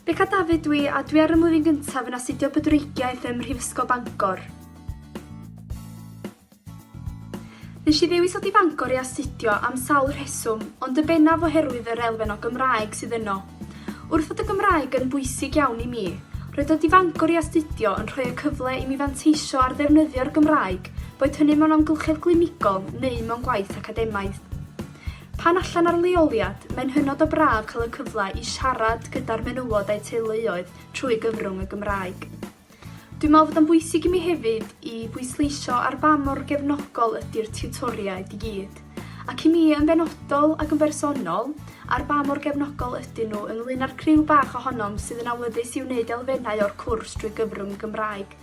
Beca Dafydd dwi a dwi ar y mlwyddyn gyntaf yn astudio bydwreigiaeth ym Mhrifysgol Bangor. Nes i ddewis o i Fangor i astudio am sawl rheswm, ond y bennaf oherwydd yr elfen o Gymraeg sydd yno. Wrth fod y Gymraeg yn bwysig iawn i mi, roedd dod i Fangor i astudio yn rhoi y cyfle i mi fanteisio ar ddefnyddio'r Gymraeg, boed hynny mewn amgylchedd glinigol neu mewn gwaith academaidd. Pan allan ar leoliad, mae'n hynod o braf cael y cyfle i siarad gyda'r menywod a'u teuluoedd trwy gyfrwng y Gymraeg. Dwi'n meddwl fod o'n bwysig i mi hefyd i bwysleisio ar ba mor gefnogol ydy'r tiwtoriaid i gyd, ac i mi yn benodol ac yn bersonol, ar ba mor gefnogol ydyn nhw ynglyn â'r criw bach ohonom sydd yn awyddus i wneud elfennau o'r cwrs drwy gyfrwng y Gymraeg,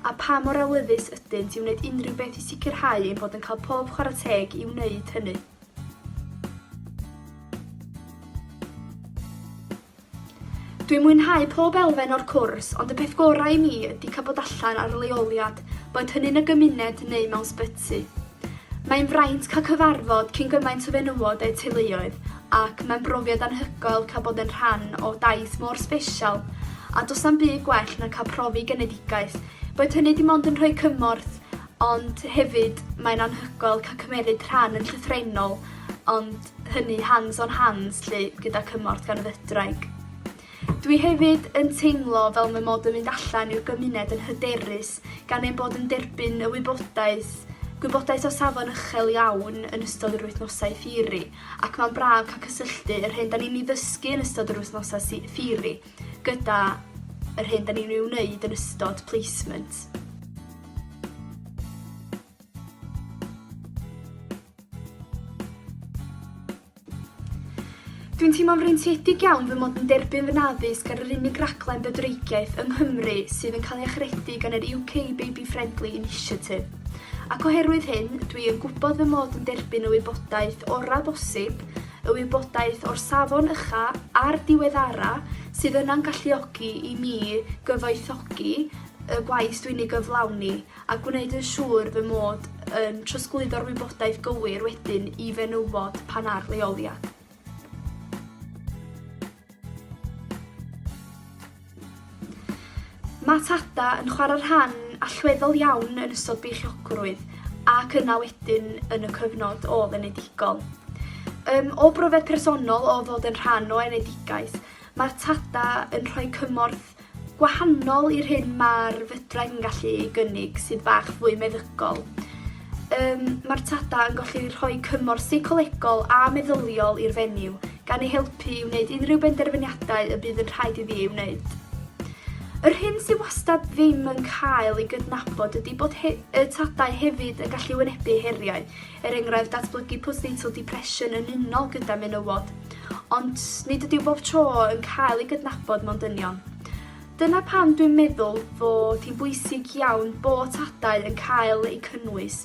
a pha mor awyddus ydynt i wneud unrhyw beth i sicrhau ein bod yn cael pob chwarae teg i wneud hynny. Dwi'n mwynhau pob elfen o'r cwrs ond y peth gorau i mi ydi cael bod allan ar leoliad, boed hynny'n y gymuned neu mewn sbyty. Mae'n fraint cael cyfarfod cyn gymaint o fenywod a'u teuluoedd ac mae'n brofiad anhygoel cael bod yn rhan o daith mor sbesial a does na'm byd gwell na cael profi genedigaeth, boed hynny dim ond yn rhoi cymorth ond hefyd mae'n anhygoel cael cymeryd rhan yn llythrennol ond hynny hands on hands 'lly gyda cymorth gan y fydwraig. Dwi hefyd yn teimlo fel mae mod yn mynd allan i'r gymuned yn hyderus gan ein bod yn derbyn y wybodaeth gwybodaeth o safon uchel iawn yn ystod yr wythnosau ffiri ac mae'n braf cael cysylltu yr hyn da ni'n ei ddysgu yn ystod yr wythnosau ffiri gyda yr hyn da ni'n ei wneud yn ystod placement. Dwi'n teimlo'n freintiedig iawn fy mod yn derbyn fy naddysg ar yr unig raglen bydwreigiaeth yng Nghymru sydd yn cael ei achredu gan yr UK Baby Friendly Initiative. Ac oherwydd hyn, dwi yn gwybod fy mod yn derbyn y wybodaeth orau bosib, y wybodaeth o'r safon ycha a'r diweddara sydd yna'n galluogi i mi gyfoethogi y gwaith dwi'n ei gyflawni a gwneud yn siŵr fy mod yn trosglwyddo'r wybodaeth gywir wedyn i fenywod pan ar leoliad. Mae Tada yn chwarae rhan allweddol iawn yn ystod beichiogrwydd ac yna wedyn yn y cyfnod o enedigol. Um, o brofiad personol o fod yn rhan o enedigaeth, mae'r Tada yn rhoi cymorth gwahanol i'r hyn mae'r fydraeth yn gallu ei gynnig sydd bach fwy meddygol. Um, mae'r tada yn gallu rhoi cymorth seicolegol a meddyliol i'r fenyw, gan ei helpu i wneud unrhyw benderfyniadau y bydd yn rhaid iddi ei wneud. Yr hyn sy'n wastad ddim yn cael ei gydnabod ydy bod he y tadau hefyd yn gallu wynebu heriau, er enghraifft datblygu postnatal depression yn unol gyda menywod, ond nid ydyw bob tro yn cael ei gydnabod mewn dynion. Dyna pam dwi'n meddwl fod hi'n bwysig iawn bod tadau yn cael eu cynnwys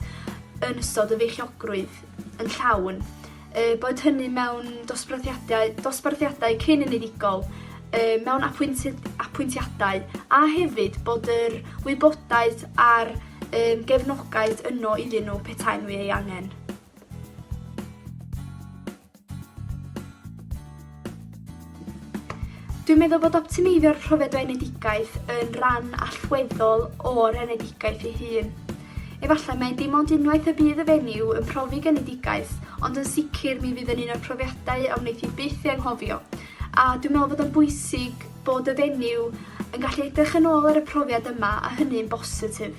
yn ystod y feichiogrwydd yn llawn, e, bod hynny mewn dosbarthiadau, dosbarthiadau cyn unigol, e, mewn apwyntiadau, a hefyd bod yr wybodaeth a'r Ym gefnogaeth yno iddyn nhw petaen nhw ei angen. Dwi'n meddwl bod optimeiddio rhyfedd o enedigaeth yn rhan allweddol o'r enedigaeth ei hun. Efallai mae dim ond unwaith y bydd y fenyw yn profi genedigaeth, ond yn sicr mi fydd yn un o'r profiadau a wneith i byth ei anghofio. A dwi'n meddwl bod o'n bwysig bod y fenyw yn gallu edrych yn ôl ar y profiad yma a hynny'n bositif.